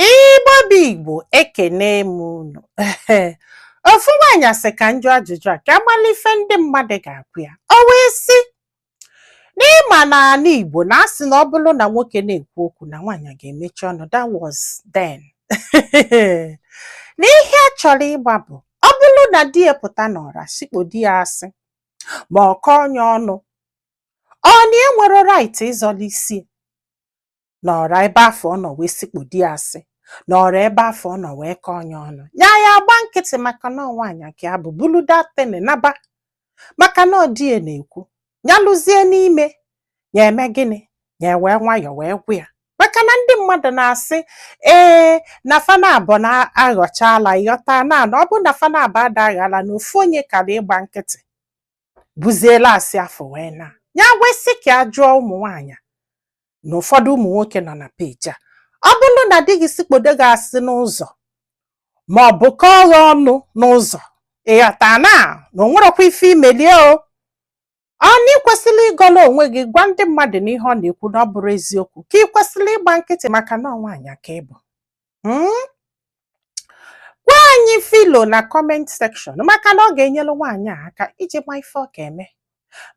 Igbo bụ Igbo ekene m unu ofu nwaanyị sị ka m jụọ ajụjụ a ka a malụ ife ndị mmadụ ga-agwa ya o wee sị na ị ma na ala Igbo na a sị na ọ bụrụ na nwoke na-ekwu okwu na nwaanyị ga-emechi ọnụ that was then n'ihe a chọrọ ịma bụ ọ bụrụ na di ya pụta n'ọra sikpodo ya asị ma ọ kọọ ya ọnụ ọ na ya enwerọ right ịzọla isi na ọra ebe afụ ọ nọ wee sikpodo ya asị na ọra ebe afụ ọ nọ wee kọọ ya ọnụ ya ya agba nkịtị maka na nwaanyị ka ya bụ bulu that thing naba maka na ọ di ya na-ekwu ya luzie n'ime ya eme gịnị ya wee nwayọọ wee gwa ya maka na ndị mmadụ na-asị ee na fa naabọ na-aghọcha ala ị ghọtana na ọ bụ na fa naabọ ada agha ala na ofu onye kara ịgba nkịtị buziela asị afụ wee naa ya wee sị ka a jụọ ụmụ nwaanyị na ụfọdụ ụmụ nwoke nọ na page a ọ bụrụ na di gị sikpodo gị asị n'ụzọ ma ọ bụ kọọ gị ọnụ n'ụzọ ị ghọtana na o nwerọkwa ife i meli ya o ọ na ị kwesịrị ịgọla onwe gị gwa ndị mmadụ na ihe ọ na-ekwu na ọ bụrọ eziokwu ka ị kwesịrị ịgba nkịtị maka na ọ nwaanyị ka ị bụ hmm? gwa anyị ife i lo na comment section maka na ọ ga-enyelu nwaanyị a aka iji ma ife ọ ga-eme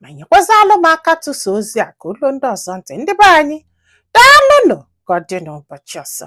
ma nyekwazịalụ m aka tụsa ozi a ka o luo ndị ọzọ ntị ndị be anyị daalụnụ ka ọ dị n'ụbọchị ọzọ